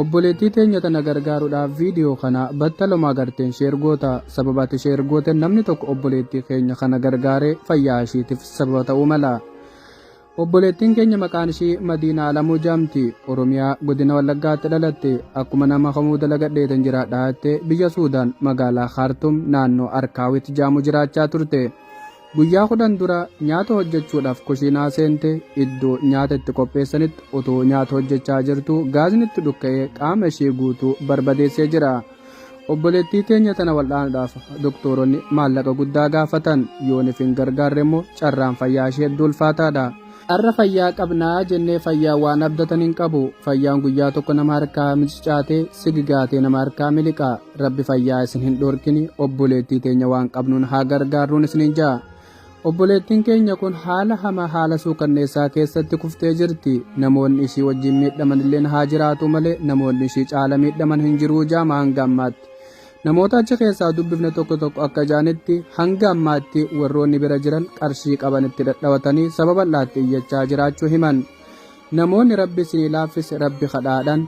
Obboleettii teenya tana gargaaruudhaaf viidiyoo kana battaluma agarteen share goota. Sababa ati share gooteen namni tokko obboleettii keenya kana gargaare fayyaa ishiitiif sababa ta'uu mala. Obboleettiin keenya maqaan ishii Madiinaa Alamuu jedhamti. Oromiyaa godina Wallaggaatti dhalatte. Akkuma nama kamuu dalagadheetan jiraadha jettee biyya Suudaan magaalaa Kaartum naannoo Arkaawit jedhamu jiraachaa turte. Guyyaa kudhan dura nyaata hojjechuudhaaf kushiinaa seente, iddoo nyaata itti qopheessanitti utuu nyaata hojjechaa jirtuu gaazni itti dhukka'ee qaama ishee guutuu barbadeessee jira. Obboleettii teenya tana wal'aanuudhaaf doktooronni maallaqa guddaa gaafatan. Yoonif hin gargaarre immoo carraan fayyaa ishee hedduu ulfaataadha. Har'a fayyaa qabna jennee fayyaa waan abdatan hin qabu. Fayyaan guyyaa tokko nama harkaa micicaatee, sigigaatee nama harkaa miliqa. Rabbi fayyaa isin hin dhorkini obboleettii teenya waan qabnuun haa gargaarruun isiniin ja'a. Obboleettiin keenya kun haala hamaa haala suukanneessaa keessatti kuftee jirti. Namoonni isii wajjin miidhaman illeen haa jiraatu malee namoonni isii caala miidhaman hin jiruu jaama hanga ammaatti. Namoota achi keessaa dubbifne tokko tokko akka jaanitti hanga ammaatti warroonni bira jiran qarshii qaban itti dhadhawatanii sababa laatti iyyachaa jiraachuu himan. Namoonni rabbi isinii laaffise rabbi kadhaadhan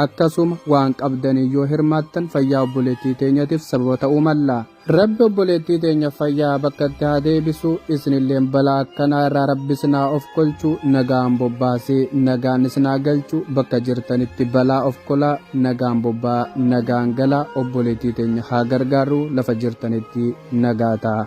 Akkasuma waan qabdaniin yoo hirmaattan fayyaa obboleettii teenyatiif sababa ta'uu malla. Rabbi obboleettii teenya fayyaa bakkatti haa deebisu, isinilleen balaa akkanaa irraa Rabbi isin haa ofkolchu, nagaan bobbaasee nagaan isin haa galchu, bakka jirtanitti balaa ofkolaa, nagaan bobba'aa, nagaan galaa, obboleettii teenya haa gargaarru, lafa jirtanitti nagaa ta'a.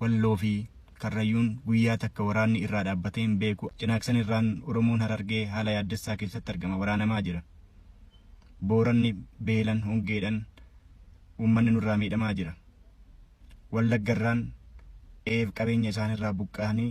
Walloo fi Karrayyuun guyyaa takka waraanni irraa dhaabbatee hin beeku. Cinaaksan irraan Oromoon Harargee haala yaaddessaa keessatti argama. Waraanamaa jira. Booranni beelan, hongeedhan uummanni nurraa miidhamaa jira. Wallagga irraan qe'eef qabeenya isaanirraa buqqa'anii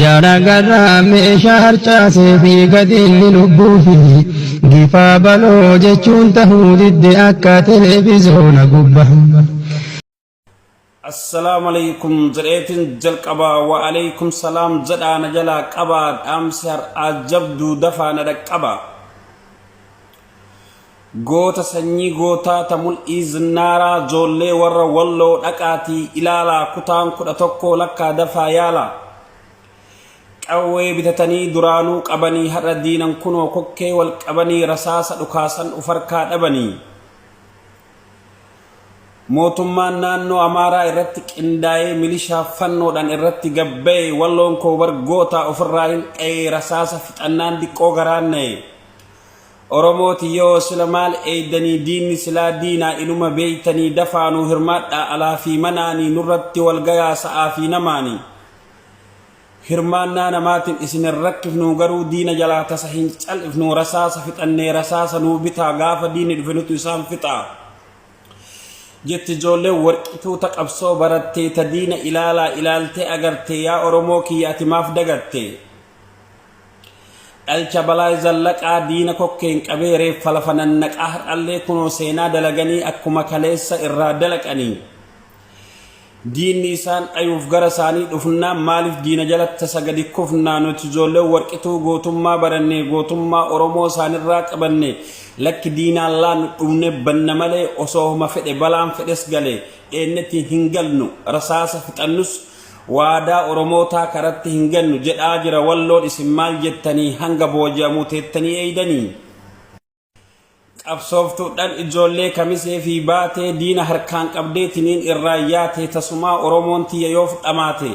Jara garraa meeshaa harcaasee fi gadinni lubbuu fi gifaa baloo jechuun tahuu didde akka televizoona gubba. Assalaamu aleykum jedheetin jalqaba wa aleykum salaam jedhaa na jalaa qabaa dhaamsi har'aa jabduu dafaa na dhaqqaba. Goota sanyii gootaa ta mul'ii zinnaaraa joollee warra walloo dhaqaatii ilaalaa kutaan kudha tokkoo lakkaa dafaa yaalaa Qawwee bitatanii duraanuu qabanii har'a diinan kunoo kokkee wal qabanii rasaasa dhukaasan uf harkaa dhabanii Mootummaan naannoo Amaaraa irratti qindaa'ee milishaa fannoodhaan irratti gabba'e walloon koo bar gootaa ofirraa hin dha'ee rasaasa fixannaan diqqoo garaan na'e Oromoo tiyyoo sila maal eeydanii diinni silaa diinaa inuma beeytanii dafaa nuu hirmaadhaa alaa fi manaanii nurratti wal gayaa sa'aa fi namaanii hirmaannaa namaatin isin hin rakkifnuu garuu diina jalaa tasa hin cal'ifnuu rasaasa fixannee rasaasa nuu bitaa gaafa diinni dhufe nutu isaan fixaa jetti ijoolleen warqituu ta qabsoo barattee ta diina ilaalaa ilaaltee agartee yaa Oromoo kiyya ati maaf dagattee Dhalcha Balaay Zallaqaa diina kokkeen qabee reeffa lafa nannaqaa har'allee kunoo seenaa dalaganii akkuma kaleessa irraa dalaqanii diinni isaan dhayuuf gara isaanii dhufnaa maaliif diina jalatti tasa gadi kufnaa nuti ijoollee warqituu gootummaa barannee gootummaa Oromoo isaanirraa qabanne lakki diinaan laannu dhumne banna malee osoo homa fedhe balaan fedhes galee dheennetti hin galnu rasaasa fixannus Waadaa oromootaa karatti hin gannu jedhaa jira walloon isin maal jettanii hanga booji'amuu teettanii eeydanii? Qabsooftudhan ijoollee kamisee fi baatee diina harkaan qabdee tiniin irraa yaatee tasumaa oromoon tiyya yoof dhamaate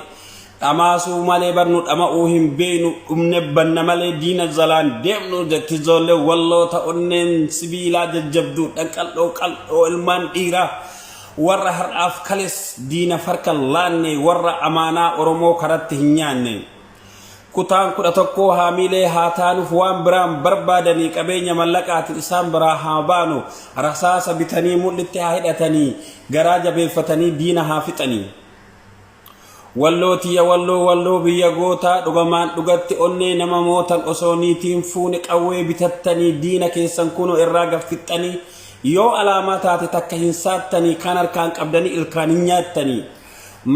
dhamaasuu malee bar nu dhama'uu hin beeynu dhumne banna malee diina jalaan deemnu jetti ijoollee walloo ta onneen sibiilaa jajjabduudhan qal'oo qal'oo ilmaan dhiiraa Warra har'aaf kales diinaf harka hin laanne, warra amaanaa Oromoo karatti hin nyaanne. Kutaan 11 haamiilee haa taanuf waan biraan barbaadanii qabeenya mallaqaatin isaan biraa haa baanu, rasaasa bitanii mudhitti haa hidhatanii, garaa jabeeffatanii diina haa fixanii. Walloo tiyya walloo walloo biyya gootaa dhugamaan dhugatti onnee nama mootan osoo niitii hin fuune qawwee bitattanii diina keessan kunoo irraa gad fixxanii yoo alaamaa taate takka hin saattanii kaan harkaan qabdanii ilkaan hin nyaattanii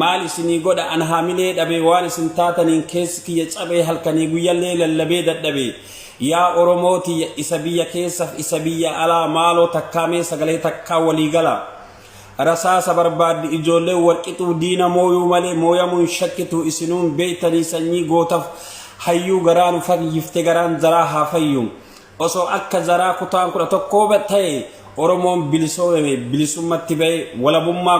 maal isinii godha an haamilee dhabee waan isin taataniin keessi kiyya cabee halkanii guyyallee lallabee dadhabee yaa oromoo tiyya isa biyya keessaf isa biyya alaa maaloo takkaa mee sagalee takkaa walii galaa Rasaasa barbaaddi ijoolleen walqixuu diina mooyuu malee mooyamuu hin shakkitu isinuun beektanii sanyii gootaf hayyuu garaa nu fayyifte garaan zaraa haa fayyu osoo akka zaraa kutaan kudha tokkoo ta'e oromoon bilisoomeme bilisummatti ba'e walabummaa